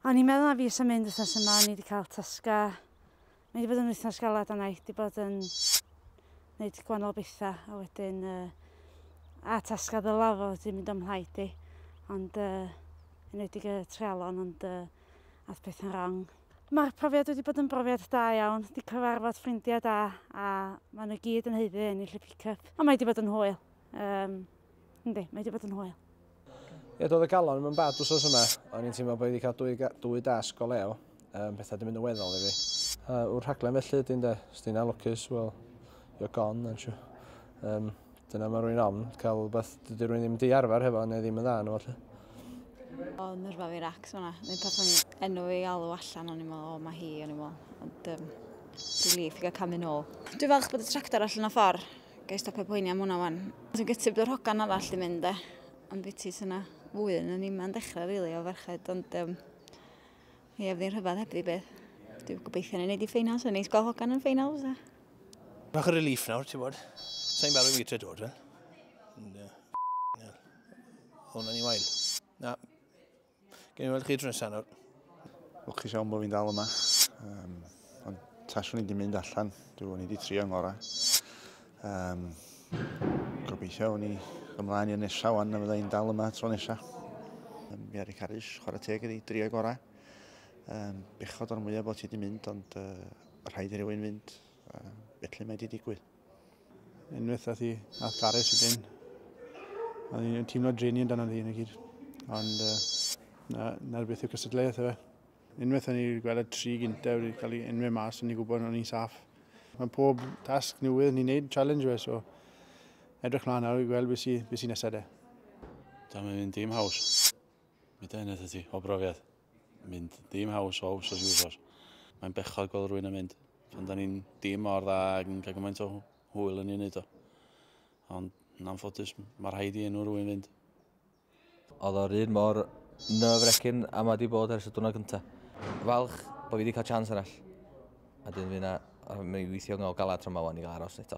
O'n i'n meddwl na fi eisiau mynd wythnos yma, o'n i wedi cael tasga. Mae wedi bod yn wythnos galad a naeth wedi bod yn gwneud gwannol bethau a wedyn uh, a tasga ddyla fo wedi mynd o'm rhaid i. Ond uh, yn wedi gyda trealon ond uh, ath pethau'n rong. Mae'r profiad wedi bod yn brofiad da iawn, di cyfarfod ffrindiau da a maen nhw gyd yn heiddi ennill y pick-up. Ond mae wedi bod yn hwyl. Um, yndi, mae wedi bod yn hwyl. Ie, doedd y galon yn bad wsos yma. O'n i'n teimlo bod wedi cael dwy, dwy dasg o lew. Um, pethau wedi mynd yn weddol i fi. Uh, wrth rhaglen felly ydy'n de, os ti'n alwcus, wel, you're gone, aren't you? Um, Dyna mae rwy'n am, cael rhywbeth dydy rwy'n ddim di arfer hefo neu ddim yn dda yno falle. O, nyrfa fi racs fyna. Mae'n peth yn enw fi alw allan, o'n i'n meddwl, o, mae hi, o'n i'n meddwl. Ond, um, dwi'n lif, i gael camu nôl. Dwi'n falch bod y tractor allan o ffordd. Gai stopio poeni am hwnna wan. Dwi'n gytib bod yr hogan arall di mynd, e. Ond fi ti syna fwy yn y nima'n dechrau, rili, really, o ferched. Ond, um, Ie, fydd hi'n rhyfedd heb beth. Dwi'n gobeithio ni'n neud i ffeinals, yn neis gweld hogan yn ffeinals. A... Bach o relief nawr, ti'n bod. Sa'n barod i weithio dod, fel. Hwna ni wael. Na. Gen i weld chi drwy nesaf nawr. Lwcus iawn bod fi'n dal yma. Um, Ond taswn i wedi mynd allan, dwi'n wedi trio ngorau. Um, gobeithio o'n i ymlaen i'r nesaf wan na fydda i'n dal yma tro nesaf. Um, mi ar y carys, chwarae teg ydi, drio gorau. Um, bechod o'r mwyaf bod ti wedi mynd, ond uh, rhaid i rywun fynd. Uh, felly mae wedi digwydd. Unwaith ath i, ath Gareth ydyn. Oedd hi'n teimlo dreni yn dan o'n ddyn i gyd. Ond uh, na, na beth yw cystadleuaeth efe. Unwaith o'n i'n gweld y tri gyntaf wedi cael ei enwau mas, o'n i'n gwybod o'n i'n saff. Mae pob tasg newydd ni'n neud, challenge fe, so edrych mlaen nawr i gweld beth sy'n sy nesaf de. Da, mae'n mynd dim haws. Mae da eneth ti, o brofiad. Mynd dim haws o haws o siwsor. Mae'n bechod gweld rwy'n yn mynd. Pan da ni'n dim mor dda ac yn cael gymaint o hwyl yn ei wneud o. Ond yn anffodus, mae rhaid i enw rwy'n fynd. Oedd o'r un mor nerve-wrecking a mae wedi bod ers y diwrnod gyntaf. Falch bod fi wedi cael chance arall. A dyn fi yna, mi weithio yn ôl galad tro mawan i gael aros eto.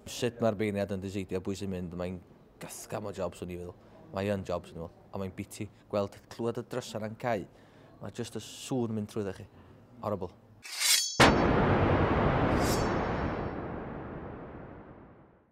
Sut mae'r beirniad yn diseidio bwys sy'n mynd, mae'n gathgam o jobs o'n i fel. Mae yn jobs yn ôl, a mae'n biti gweld clywed y drysau na'n cau. Mae jyst y sŵn mynd trwy chi. Horrible.